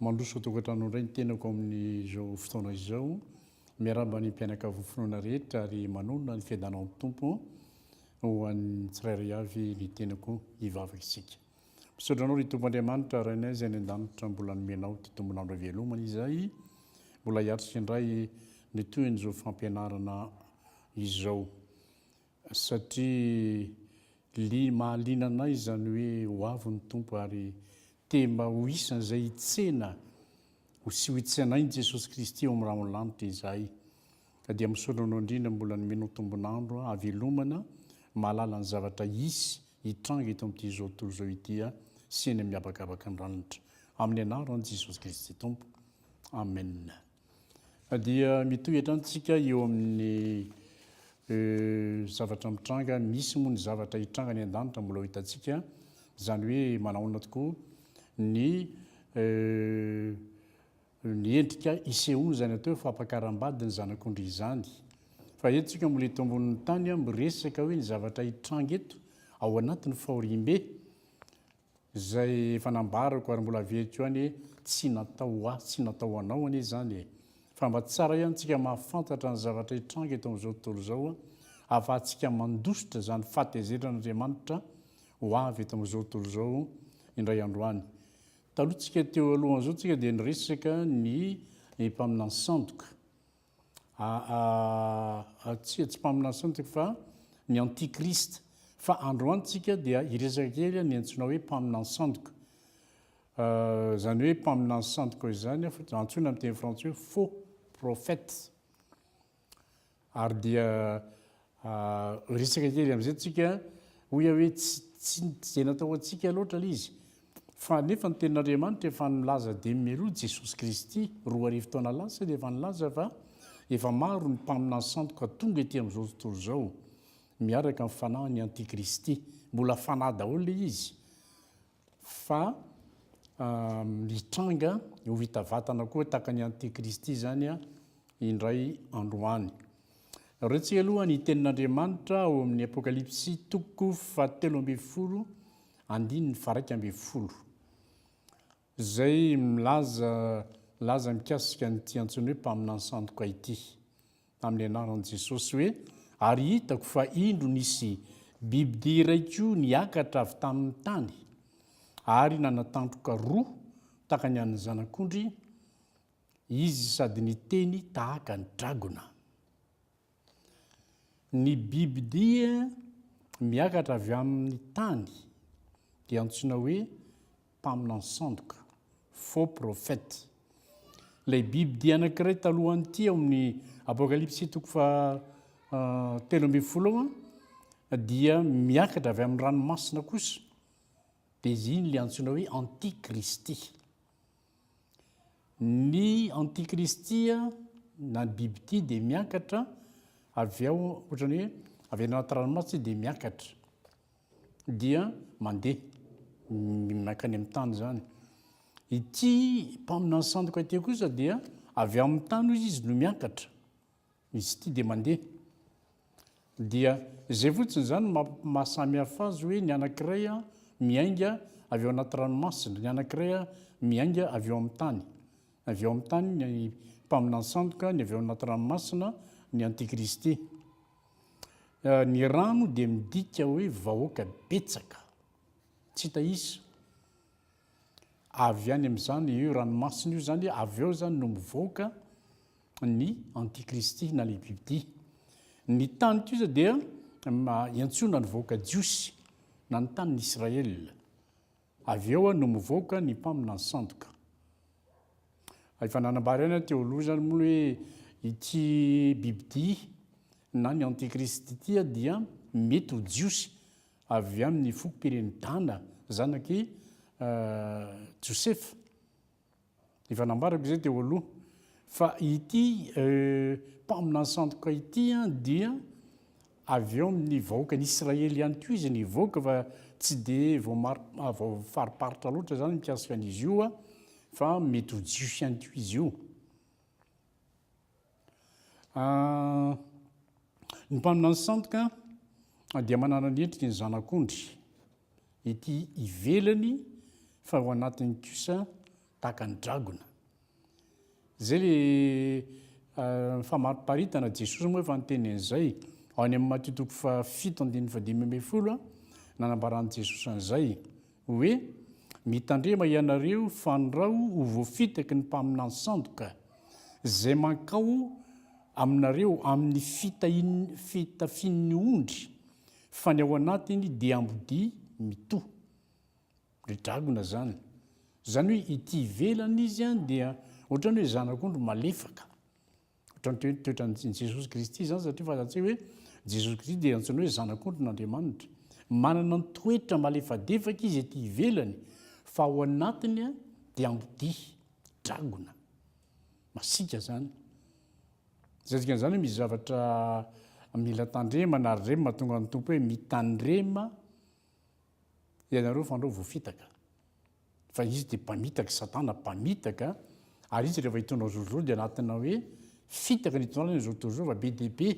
Mandroso an-tokantrano indray ny tenako amin'izao fotoana izao. Miarahaba ny mpianakavy ny finoana rehetra ary manonona ny fiadanan'ny Tompo ho an'ny tsirairay avy ny tenako. Hivavaka isika. Misaotra Anao ry Tompo Andriamanitra, Rainay izay any an-danitra, mbola nomenao ity tombon'andro ivelomana izay mbola hiatrika indray ny tohin'izao fampianarana izao. Satria mahaliana anay izany hoe ho avy ny Tompo ary te mba ho isan'izay hitsena sy ho itsenain'i Jesosy Kristy ao amin'ny rahon'ny lanitra izahay. Ka dia misaotra Anao indrindra mbola nomenao tombon'andro hahavelomana mahalala ny zavatra hisy hitranga eto amin'ity izao tontolo izao ity sy eny amin'ny habakabaka ny ranitra. Amin'ny anaran'i Jesosy Kristy Tompo. Amen. Dia mitohy hatrany tsika eo amin'ny zavatra mitranga, misy moa ny zavatra hitranga any an-danitra mbola ho hitantsika, izany hoe manahoana tokoa ny ny endrika isehoany izany atao hoe fampakaram-badin'ny zanak'ondry izany. Fa eto tsika mbola eto ambonin'ny tany miresaka hoe ny zavatra hitranga eto ao anatin'ny fahoriambe Izay efa nambarako ary mbola averiko ihany hoe tsy natao ho ahy, tsy natao ho anao anie izany e! Fa mba tsara ihany tsika mahafantatra ny zavatra hitranga eto amin'izao tontolo izao ahafahantsika mandositra izany fahatezeran'Andriamanitra ho avy eto amin'izao tontolo izao indray andro any. Taloha tsika teo alohan'izao tsika dia niresaka ny mpaminany sandoka. Aa tsia tsy mpaminany sony tsika fa ny anti christ fa androany tsika dia hiresaka kely ny antsoina hoe mpaminany sandoka zany hoe mpaminany sandoka izany antsoina am teny frantsay hoe faux prophète ary dia Resaka kely amin'izay tsika hoy aho hoe tsy tsy dia natao ho antsika loatra ilay izy fa nefa ny tenin'Andriamanitra efa nilaza dimy mialoha Jesosy Kristy roa arivo taona lasa dia efa nilaza fa efa maro ny mpaminany sandoka tonga ety amin'izao tontolo izao miaraka amin'ny fanahin'ny antikristy. Mbola fanahy daholo ilay izy. fa hitranga ho vita vatana koa tahaka ny antikristy izany indray andro any. Ireo tsy aloha ny tenin'Andriamanitra ao amin'ny Apokalypsy toko fahatelo ambin'ny folo andininy faraika ambin'ny folo izay milaza laza mikasika an'ity antsoina hoe mpaminany sandoka ity. amin'ny anaran'i Jesosy hoe, Ary hitako fa indro nisy bibidia iray koa niakatra avy tamin'ny tany, ary nanatandroka roa tahaka ny an'ny zanak'ondry izy sady niteny tahaka ny dragona. Ny bibidia miakatra avy amin'ny tany dia antsoina hoe mpaminany sandoka, faux prophète. Ilay biby dia anankiray talohan'ity ao amin'ny Apokalypsy toko faha telo ambin'ny folo ao an, dia miakatra avy amin'ny ranomasina kosa, dia izy iny ilay antsoina hoe antikristy. Ny antikristy na ny biby ity dia miakatra avy ao ohatran'ny hoe avy any anaty ranomasina izy dia miakatra. dia mandeha mankany amin'ny tany izany. Ity mpaminany sandoka ity kosa dia avy amin'ny tany hoy izy no miakatra, izy ity dia mandeha. Dia izay fotsiny izany mahasamihafa azy hoe ny anankiray miainga avy ao anaty ranomasina, ny anankiray miainga avy ao amin'ny tany. Avy ao amin'ny tany ny mpaminany sandoka, ny avy ao anaty ranomasina ny antikristy. Ny rano dia midika hoe vahoaka betsaka, tsy hita isa. Avy any amin'izany io ranomasina io izany, avy eo izany no mivoaka ny antikristy na ny bibidia. Ny tany kosa dia iantsoana ny vahoaka jiosy na ny tanin'Israel. Avy eo no mivoaka ny mpaminany sandoka. Efa nanambara ihany aho teo aloha izany moa hoe ity bibidia na ny antikristy ity dia mety ho jiosy avy amin'ny fokom-piren'i Dana, zanak'i Josefa. Efa nambarako izay teo aloha fa ity mpaminany sandoka ity dia avy eo amin'ny vahoakan'i Israely ihany koa izy nivoaka fa tsy dia voafariparitra loatra izany mikasika an'izy io fa mety ho jiosy ihany koa izy io. Ny mpaminany sandoka dia manana ny endriky ny zanak'ondry, ety ivelany fa ao anatiny kosa tahaka ny dragona. Izay le famariparitana, Jesosy moa efa niteny an'izay, ao any amin'ny Matio toko fahafito andininy fahadimy ambin'ny folo, nanambaran'i Jesosy an'izay. Hoe, Mitandrema ianareo fandrao ho voafitaky ny mpaminany sandoka, izay mankao aminareo amin' ny fitafin' ny ondry, fa ny ao anatiny dia ambodia mitoha. Ry dragona izany. Izany hoe ity ivelany izy dia ohatran' ny hoe zanak' ondry malefaka. Ohatran'ny hoe toetran'i Jesosy Kristy izany satria fantatsika hoe Jesosy Kristy dia antsoina hoe Zanak'ondrin'Andriamanitra. Manana ny toetra malefadefaka izy ety ivelany fa ao anatiny dia ambodia, dragona. Masiaka izany. Izay dikan'izany hoe misy zavatra mila tandremana ary ireny mahatonga ny Tompo hoe mitandrema ianareo fa andrao voafitaka fa izy dia mpamitaka satana mpamitaka ary izy rehefa hitondra ny zokizoky dia anatina hoe fitaka ny hitondrana ny zokizoky fa be dia be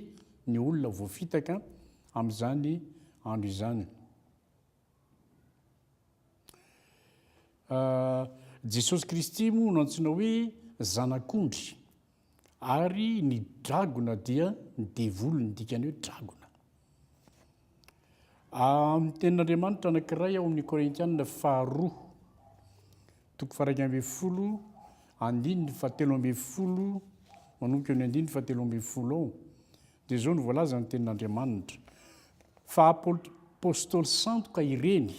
ny olona voafitaka amin'izany andro izany ah, Jesosy Kristy moa no antsoina hoe zanak'ondry Ary ny dragona dia ny devoly, ny dikany hoe dragona. Amin'ny tenin'Andriamanitra anankiray ao amin'ny Korintianina faharoa, toko faharaika ambin'ny folo, andininy fahatelo ambin'ny folo, manomboka ny andininy fahatelo ambin'ny folo ao, dia izao no voalazan'ny tenin'Andriamanitra, fa apostoly sandoka ireny,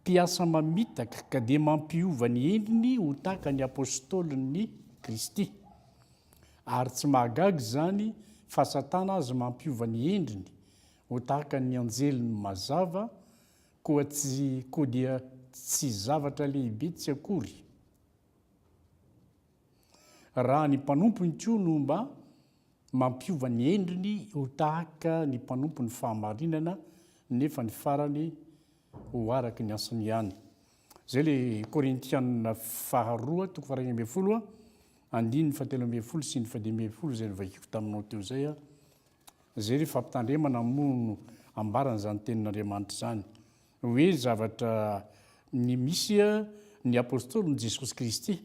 Mpiasa mamitaka ka dia mampiova ny endriny ho tahaka ny Apôstôlin'i Kristy. Ary tsy mahagaga izany fa Satana aza mampiova ny endriny ho tahaka ny anjeliny mazava, koa tsy koa dia tsy zavatra lehibe tsy akory. Raha ny mpanompony koa no mba mampiova ny endriny ho tahaka ny mpanompon'ny fahamarinana nefa ny farany ho araka ny asany ihany. Izay le Korintianina faharoa toko faharoa ambin'ny folo andininy fahatelo ambin'ny folo sy ny fadimy ambin'ny folo izay novakiko taminao teo izay. Izay le fampitandremana moa no ambaran'izany tenin'Andriamanitra izany. Hoe zavatra ny misy ny apostoliny Jesosy Kristy.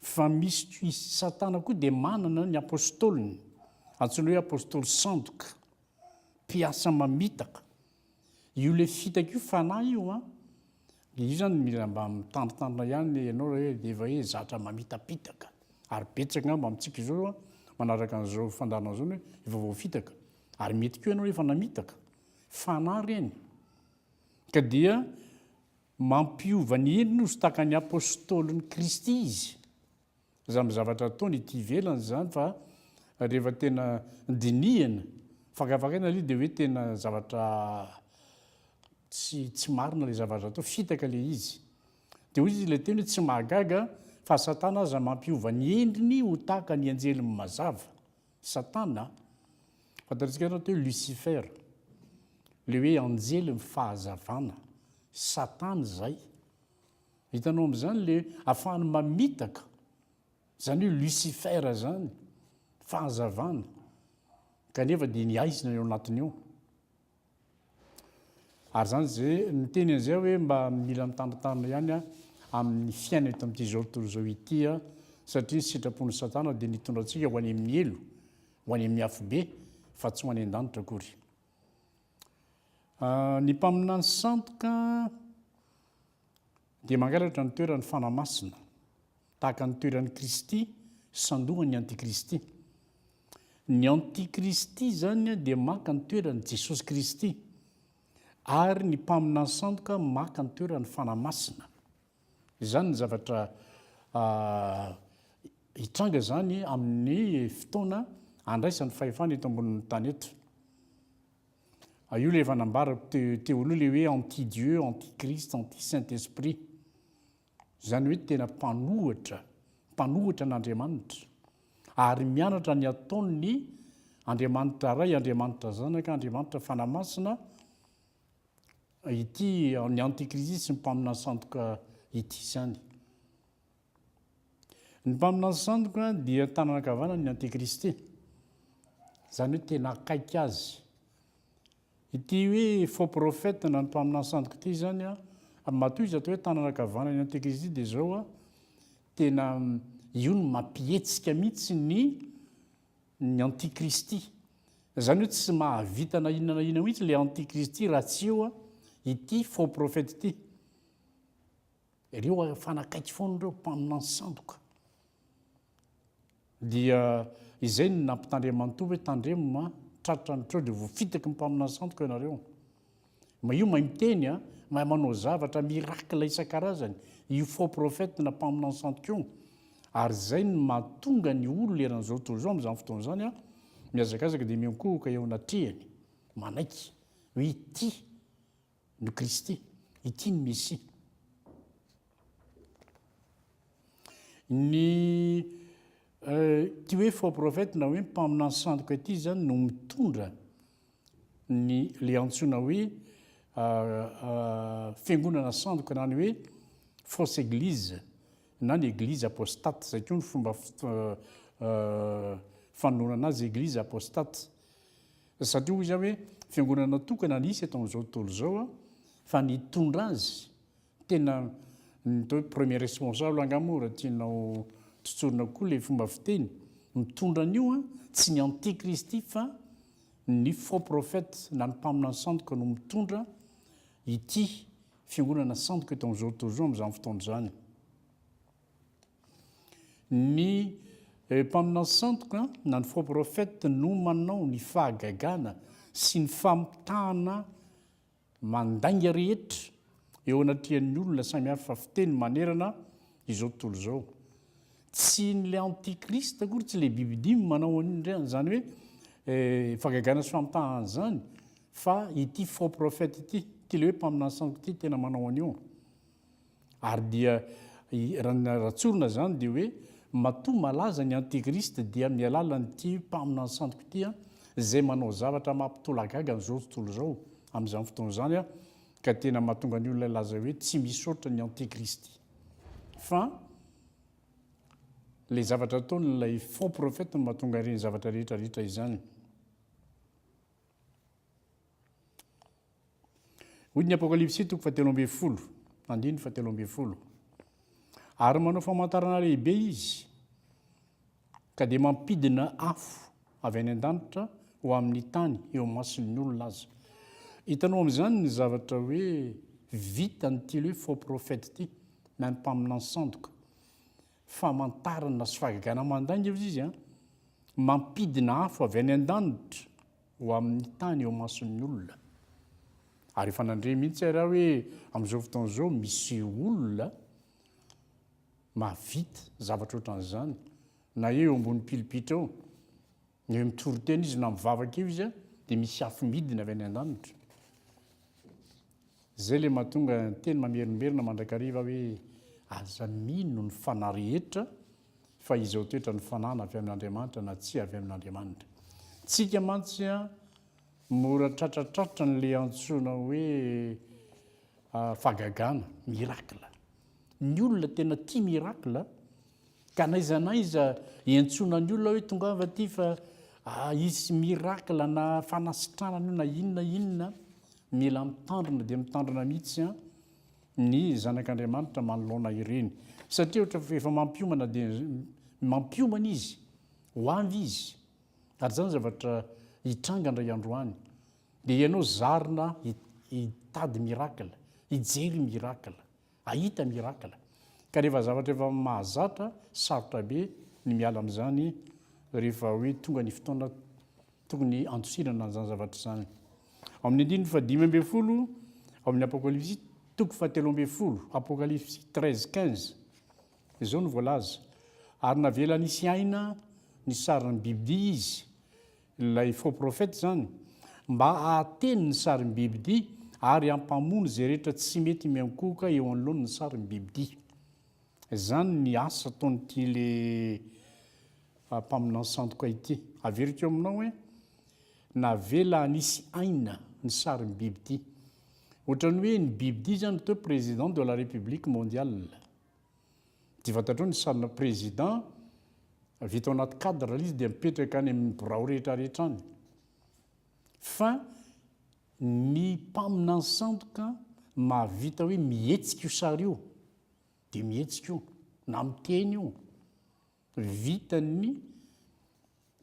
Fa misy koa i Satana koa dia manana ny apostoliny. Antsoina hoe apostoly sandoka. Mpiasa mamitaka. Io ilay fitaka io fanahy io an. Dia io izany mila mba mitandrintandrina ihany ianao raha hoe dia efa hoe zatra mamitapitaka. Ary betsaka angamba amintsika izao manaraka an'izao fandaharana izao ny hoe efa voafitaka. Ary mety koa ianao efa namitaka. Fanahy ireny, ka dia mampiova ny endriny ho stakan'ny Apôstôlin'i Kristy izy. Izany amin'ny zavatra ataony ety ivelany izany fa rehefa tena dinihana, fakafakaina ilay dia hoe tena zavatra tsy tsy marina ilay zavatra atao, fitaka ilay izy. Dia hoy izy ilay teny hoe tsy mahagaga fa Satana aza mampiova ny endriny ho tahaka ny anjeliny mazava. Satana, fantatsika ianao teo Lucifer, le hoe anjely ny fahazavana, Satana izay. Hitanao amin'izany le afahany mamitaka, izany hoe Lucifer izany, fahazavana, kanefa dia ny aizina eo anatiny eo. Ary zany ze miteny an'izay aho hoe mba mila mitandritandrina ihany aho amin'ny fiainana eto amin'ity zao tontolo izao ity aho satria ny sitrapon'i Satana dia ny hitondra antsika ho any amin'ny helo, ho any amin'ny afobe fa tsy ho any an-danitra akory. Ny mpaminany sandoka Dia mangalatra ny toeran'ny fanahy masina, tahaka ny toeran'i Kristy sandohan'ny antikristy. Ny antikristy izany dia maka ny toeran'i Jesosy Kristy, ary ny mpaminany sandoka maka ny toeran'ny fanahy masina. Izany ny zavatra hitranga izany amin'ny fotoana andraisan'ny fahefana eto ambonin'ny tany eto. A io ilay efa nambarako te, teo aloha ilay hoe anti Dieu, anti Christ, anti Saint Esprit. Izany hoe tena mpanohatra, mpanohatra an'Andriamanitra. Ary mianatra ny ataon'ny Andriamanitra Ray, Andriamanitra Zanaka, Andriamanitra Fanahy Masina ity ny anti Christ sy ny mpaminany sandoka ity izany. Ny mpaminany sandoka dia tanana ankavanany ny antikristy, izany hoe tena akaiky azy. Ity hoe faux prophète na ny mpaminany sandoka ity izany a, ary matoa izy atao hoe tanana ankavanany ny antikristy dia izao a, tena io no mampihetsika mihitsy ny ny antikristy. Izany hoe tsy mahavita na inona na inona mihitsy ilay antikristy raha tsy eo ity faux prophète ity. Ireo ary mifanakaiky foana ireo mpaminany sandoka. Dia izay no nampitandreman'Toa hoe tandremo ma, tratra ny treo dia voafitaky ny mpaminany sandoka ianareo. Mahio mahay miteny a, mahay manao zavatra, miracle isan-karazany io faux prophète na mpaminany sandoka io. Ary izay no mahatonga ny olona eran'izao tontolo izao amin'izany fotoana izany a, mihazakazaka dia miankohoka eo anatrehany, manaiky hoe ity ny Kristy, ity ny Mesia. Ny ity hoe faux prophète na hoe mpaminany sandoka ity zany no mitondra ny le antsoina hoe fiangonana sandoka na ny hoe fausse église na ny église apostate zay koa ny fomba fanolorana azy église apostate. Satria hoy izaho hoe fiangonana tokana nisy eto amin'izao tontolo izao fa nitondra azy tena ny atao hoe premier responsable angaha moa raha tianao tsotsorina koa ilay fomba fiteny mitondra an'io an tsy ny antikristy fa ny faux prophète na ny mpaminany sandoka no mitondra ity fiangonana sandoka eto amin'izao tontolo izao amin'izany fotoana izany. Ny mpaminasantoka na ny faux prophète no manao ny fahagagana sy ny famitahana mandainga rehetra eo anatrehan'ny olona samy hafa fiteny manerana izao tontolo izao. Tsy ny le antichrist akory, tsy le bibi dimy manao an'io ndray an'izany hoe fahagagana sy famitahana an'izany fa ity faux prophète ity, ity le hoe mpaminasantoka ity tena manao an'io. Ary dia raha ny raha tsorina izany dia hoe matoa malaza ny antikristy dia amin'ny alalan'ity mpaminany santoko ity an, izay manao zavatra mampitolagaga an'izao tontolo izao amin'izany fotoana izany an, ka tena mahatonga ny olona hilaza hoe tsy misaotra ny antikristy fa ilay zavatra ataon'ilay faux prophète no mahatonga ireny zavatra rehetra rehetra izany. Hoy ny Apokalypsy toko fahatelo ambin'ny folo, andininy fahatelo ambin'ny folo. Ary manao famantarana lehibe izy, ka dia mampidina afo avy any an-danitra ho amin'ny tany eo mason'ny olona aza. Hitanao amin'izany ny zavatra hoe vita an'ity hoe faux prophète ity, na ny mpaminany sandoka. Famantarana sy fahagagana mandainga hoy izy, mampidina afo avy any an-danitra. ho amin'ny tany eo mason'ny olona. Ary efa nandre mihitsy ary aho hoe amin'izao fotoana izao misy olona mahavita zavatra ohatran'izany, na eo ambony pilipitra eo, na eo mitoritena izy, na mivavaka eo izy, dia misy afo midina avy any an-danitra. Zay le mahatonga teny mamerimberina mandrakariva hoe aza mino ny fanahy rehetra fa izao toetra ny fanahy na avy amin'Andriamanitra na tsy avy amin'Andriamanitra. Tsika mantsy a mora tratratratra ny le antsoina hoe fahagagana, miracle. Ny olona tena tia miracle a. Ka n'aiza n'aiza iantsoana ny olona hoe tongava aty fa hisy miracle na fanasitranana io na inona na inona, mila mitandrina dia mitandrina mihitsy ny zanak'Andriamanitra manoloana ireny satria ohatra efa mampiomana dia mampiomana izy, ho avy izy ary izany zavatra hitranga indray andro any dia ianao zarina hitady miracle, hijery miracle. Hahita miracle. Ka rehefa zavatra efa mahazatra, sarotra be ny miala amin'izany rehefa hoe tonga ny fotoana tokony handosirana an'izany zavatra izany. Ao amin'ny andininy fahadimy ambin'ny folo ao amin'ny Apokalypsy toko fahatelo ambin'ny folo, Apokalypsy treize quinze, izao no voalaza, Ary navela nisy aina ny sarin'ny bibidia izy, Ilay faux prophète izany mba ahateny ny sarim-bibidia ary ampamono izay rehetra tsy mety miankohoka eo anoloan ny sarim-bibidia. Izany ny asa ataon'ity le mpaminany sandoka ity. Averiko aminao hoe navela hanisy aina ny sarim-bibidia. Ohatran'ny hoe ny bibidia izany toa président de la république mondiale. Dia fantatrao ny salle président vita ao anaty cadre ilay izy dia mipetraka any amin'ny birao rehetra rehetra any. Fa ny mpaminany sandoka mahavita hoe mihetsika io sary io dia mihetsika io na miteny io. Vitan'ny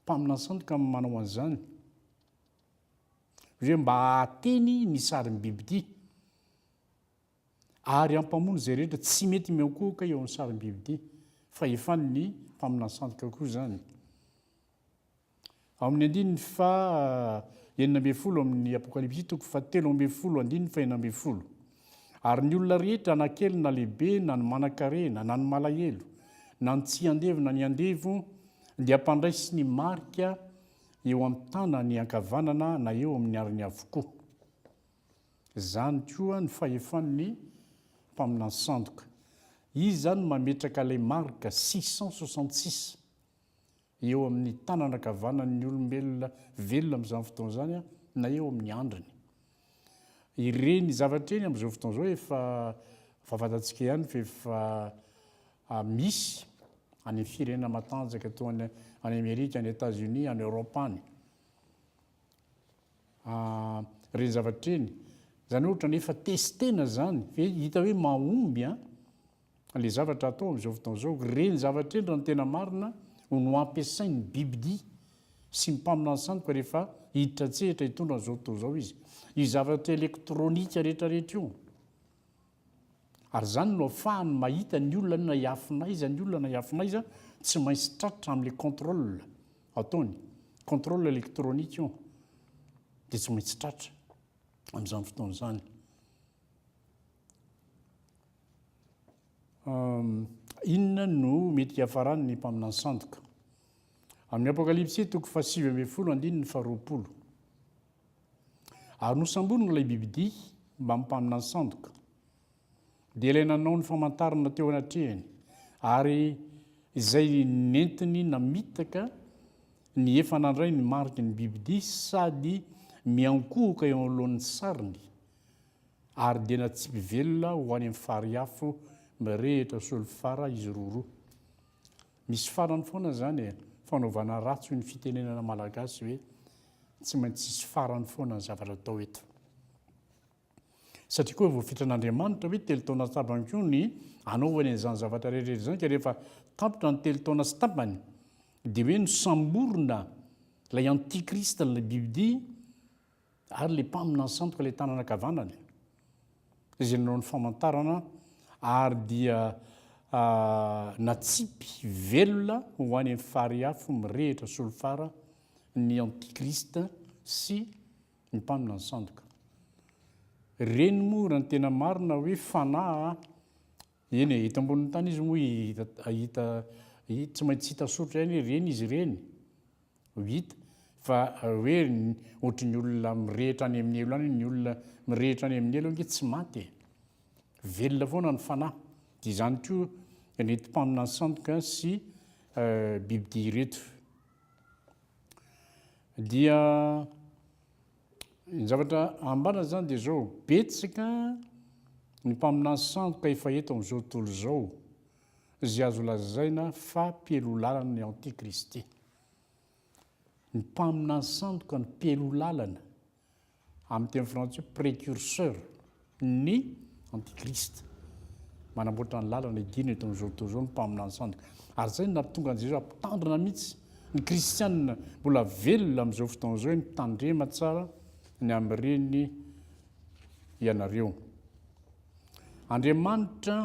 mpaminany sandoka ny manao an'izany. Hoe mba hahateny ny sarim-bibidia. ary hampamono izay rehetra tsy mety miankohoka eo amin'ny sarim-biby ity fahefan'ny mpaminany sandoka koa izany. Ao amin'ny andininy fa enina ambin'ny folo amin'ny Apokalypsy toko fa telo ambin'ny folo andininy fa enina ambin'ny folo. Ary ny olona rehetra na kely na lehibe na ny manankarena na ny malahelo na ny tsy andevo na ny andevo dia mpandraisy ny marika eo amin'ny tanany ankavanana na eo amin'ny ariny avokoa. Izany koa ny fahefan'ny mpaminany sandoka. Izy izany no mametraka ilay marika six cent soixante six eo amin'ny tanana ankavanan'ny olombelona velona amin'izany fotoana izany na eo amin'ny handriny. Ireny zavatra ireny amin'izao fotoana izao efa fantatsika ihany fa efa ah, misy any amin'ny firenena matanjaka toa any any Amerika, any Etats-Unis, any Europe any. Ah reny zavatra reny, zany ohatra ny efa testena zany ve hita hoe mahomby an le zavatra atao amzao fotoana zao, reny zavatra reny raha ny tena marina no no ampiasain'ny bibidia sy ny mpaminany sandoka rehefa hiditra an-tsehatra hitondra an'izao tontolo izao izy, io zavatra elektronika rehetra rehetra io. Ary izany no afahany mahita ny olona na hiafina aiza ny olona na hiafina aiza tsy maintsy tratra amin'ilay contrôle ataony, contrôle électronique io dia tsy maintsy tratra amin'izany fotoana izany. Inona no mety hiafaran'ny mpaminany sandoka? Amin'ny Apokalypsy toko fahasivy ambin'ny folo andininy faharoapolo. Ary nosamborina ilay bibidia mbamin'ny mpaminany sandoka. Dia ilay nanao ny famantarana teo anatrehany, ary izay nentiny namitaka ny efa nandray ny mariky ny bibidia sady miankohoka eo anoloan'ny sariny, ary dia natsipy velona ho any amin'ny fariafo mirehitra solifara izy roroa. Misy farany foana izany e! Fanaovana ratsy hoy ny fitenenana malagasy ve? Tsy maintsy hisy farany foana ny zavatra atao eto. Satria koa voafitran' Andriamanitra hoe telo taona sy tapany koa ny hanaovany an'izany zavatra rehetra izany ka rehefa tapitra ny telo taona sy tapany dia hoe nosamborina ilay antikrista ilay bibidia Ary ilay mpaminany sandoka ilay tanana ankavanany, izay nanao ny famantarana, ary dia natsipy velona ho any amin'ny fary afo mirehitra solifara ny Antikrista sy ny mpaminany sandoka. Ireny moa raha ny tena marina hoe fanahy Eny e, eto ambonin'ny tany izy moa hita, hahita, hi, tsy maintsy hita soritra ihany ireny izy ireny, ho hita, fa hoe ohatry ny olona mirehitra any amin'ny helo any, ny olona mirehitra any amin'ny helo ange tsy maty e! velona foana ny fanahy, dia izany koa ireto mpaminany sandoka sy bibidia ireto. Dia. Ny zavatra ambara zany dia zao, betsaka ny mpaminany sandoka efa eto amin'izao tontolo izao izay azo lazaina fa mpialohalalany antikristy. Ny mpaminany sandoka no mpialohalalany, amin'ny teny frantsay precurseur. Ny antikrista manamboatra ny lalana hidirana eto amin'izao tontolo izao ny mpaminany sandoka. Ary izay no nahatonga an'i Jesoa mpitandrina mihitsy ny kristianina mbola velona amin'izao fotoana izao hoe mitandrema tsara ny amin'ireny ianareo. Andriamanitra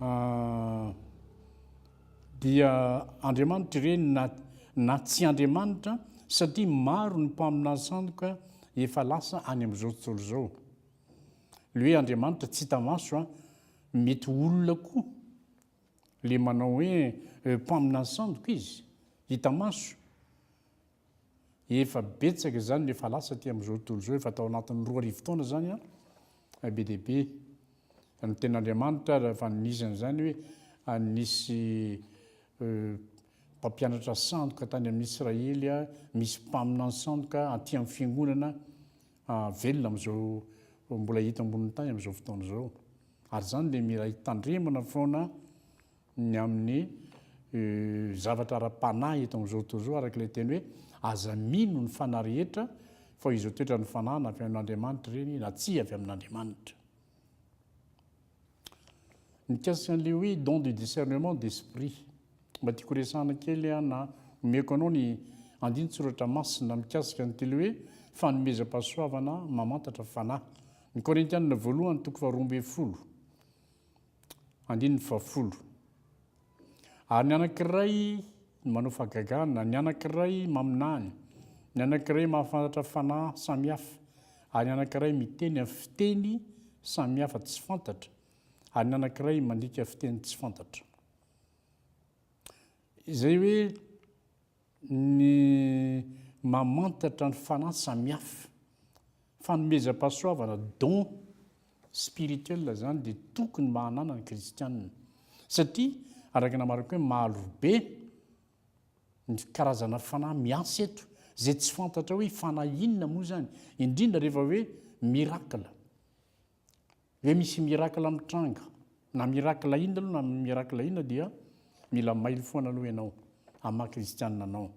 ah, Dia Andriamanitra ireny na na tsy Andriamanitra satria maro ny mpaminany sandoka efa lasa any amin'izao tontolo izao. Le hoe Andriamanitra tsy hita maso a, mety olona koa le manao hoe mpaminany sandoka izy hita maso Efa betsaka izany no efa lasa aty amin'izao tontolo izao, efa tao anatin'ny roa arivo taona izany an, be dia be. Ny tenin'Andriamanitra ary efa nisy an'izany hoe nisy mpampianatra sandoka tany amin'ny Israely, misy mpaminany sandoka aty amin'ny fiangonana velona amin'izao mbola hita ambonin'ny tany amin'izao fotoana izao. Ary izany dia mila hitandremana foana ny amin'ny zavatra ara-panahy eto amin'izao tontolo izao, araka ilay teny hoe, Aza mino ny fanahy rehetra, fa izao toetra ny fanahy na avy amin'Andriamanitra ireny na tsia avy amin'Andriamanitra. Mikasika an'ilay hoe don de discernement d'esprit, mba tiako horesahana kely aho na omeko anao ny andinin-tsoratra masina mikasika an'ity hoe fanomezam-pahasoavana mamantatra fanahy, ny Korintianina voalohany toko faharoa ambin'ny folo. Andininy fahafolo. Ary ny anankiray no manao fahagagana, ny anankiray maminany, ny anankiray mahafantatra fanahy samihafa, ary ny anankiray miteny amin'ny fiteny samihafa tsy fantatra, ary ny anankiray mandika fiteny tsy fantatra. Izay hoe ny mamantatra ny fanahy samihafa, fanomezam-pahasoavana, dons, spirituels izany dia tokony mba hananany kristiana satria araka ny hamarako hoe marobe ny karazana fanahy miasa eto izay tsy fantatra hoe fanahy inona moa izany indrindra rehefa hoe miracle. Hoe misy miracle mitranga, na miracle inona aloha na miracle inona dia mila mailo foana aloha ianao amin'ny maha kristianina anao.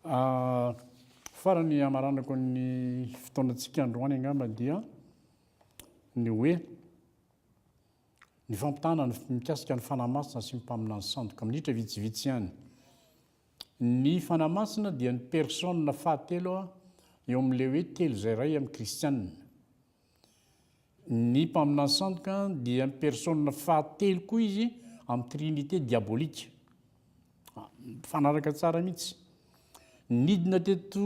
Ah, farany hamaranako ny fotoanantsika androany angamba dia ny hoe ny fampitahana ny mikasika ny fanahy masina sy ny mpaminany sandoka minitra vitsivitsy ihany Ny Fanahy Masina dia ny Persona fahatelo eo amin'ilay hoe telo izay iray amin'ny Kristianina. Ny Mpaminany Sandoka dia ny Persona fahatelo koa izy amin'ny Trinite diabolika. Mifanaraka tsara mihitsy. Nidina teto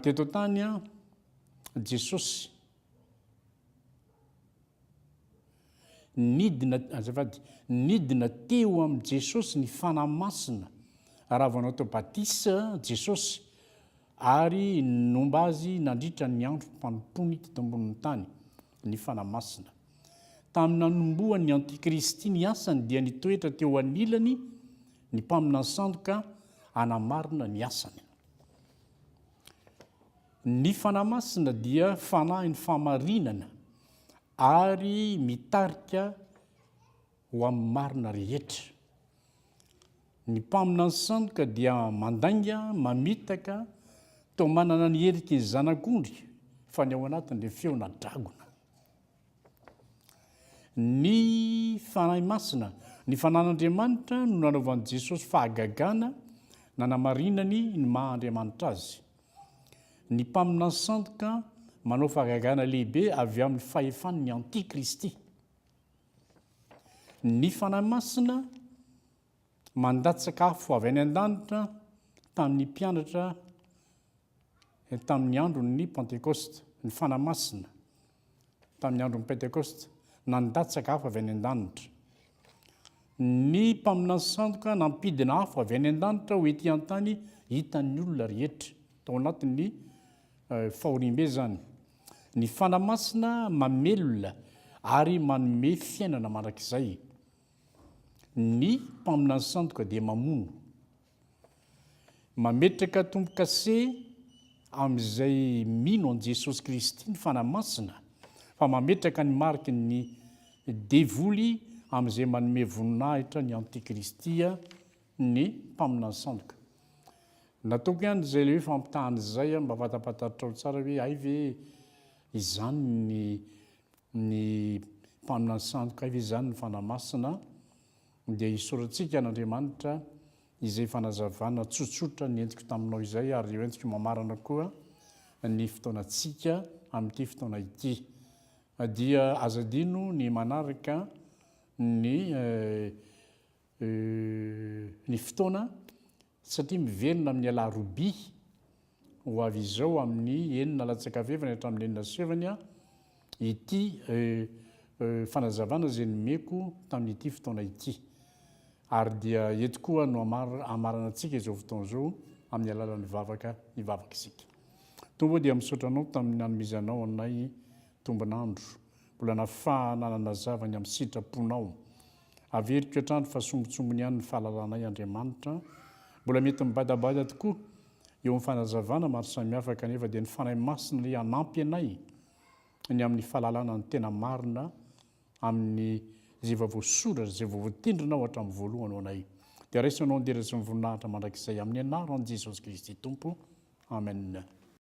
teto an-tany Jesosy. Nidina, azafady, nidina teo amin'i Jesosy ny Fanahy Masina raha vao natao batisa Jesosy ary nomba azy nandritra ny androm-panompoany teto ambonin'ny tany ny Fanahy Masina. Tamin'ny nanombohan'ny Antikristy ny asany dia nitoetra teo anilany ny mpaminany sandoka hanamarina ny asany. Ny Fanahy Masina dia Fanahin'ny fahamarinana ary mitarika ho amin'ny marina rehetra. Ny Mpaminany Sandoka dia mandainga, mamitaka, toa manana ny heriky ny zanak'ondry fa ny ao anatiny dia feona dragona. Ny Fanahy Masina. Ny Fanan'Andriamanitra no nanaovan'i Jesosy fahagagana nanamarinany ny maha Andriamanitra Azy. Ny Mpaminany sandoka manao fahagagana lehibe avy amin'ny fahefan'ny antikristy. Ny Fanahy Masina mandatsaka afo avy any an-danitra tamin'ny mpianatra tamin'ny andron'ny Pantekosta. Ny Fanahy Masina tamin'ny andron'ny Pentekosta, na ny daty sakafo avy any an-danitra. Ny mpaminany sandoka nampidina afo avy any an-danitra ho ety an-tany hitan'ny olona rehetra, tao anatin'ny eh, fahoriambe izany. Ny fana masina mamelona ary manome fiainana mandrakizay. Ny mpaminany sandoka dia mamono. Mametraka tombo-kase amin'izay mino an'i Jesosy Kristy ny Fanahy Masina, fa mametraka ny mariky ny devoly amin'izay manome voninahitra ny antikristy ny mpaminany sandoka. Nataoko ihany izay le hoe fampitahana izay mba fantampantaritrao tsara hoe hay ve izany ny ny mpaminany sandoka, hay ve izany ny Fanahy Masina. Dia isorantsika an'Andriamanitra izay fanazavana tsotsotra nentiko taminao izay ary hoentiko mamarana koa ny fotoanantsika amin'ity fotoana ity. Dia aza adino ny manaraka ny ny fotoana Satria miverina amin'ny Alarobia ho avy izao amin'ny enina latsaka fahefany hatramin'ny enina sy fahefany ity fanazavana izay nomeko tamin'ity fotoana ity. Ary dia eto koa no hamaranantsika izao fotoana izao amin'ny alalan'ny vavaka hivavaka isika. Tompo ô dia misaotra Anao tamin'ny nanomezanao anay tombon'andro, mbola nafahana nanazava ny amin'ny sitraponao. Averiko hatrany fa sombintsombiny ihany ny fahalalanay Andriamanitra, mbola mety mibadabada tokoa eo amin'ny fanazavana maro samihafa kanefa dia ny Fanahy Masina ilay hanampy anay ny amin'ny fahalalana ny tena marina amin'ny izay efa voasoratra sy izay vao voatendrinao hatramin'ny voalohany ho anay. Dia raiso anao an-dera sy ny voninahitra mandrakizay amin'ny anaran'i Jesosy Kristy Tompo. Amen.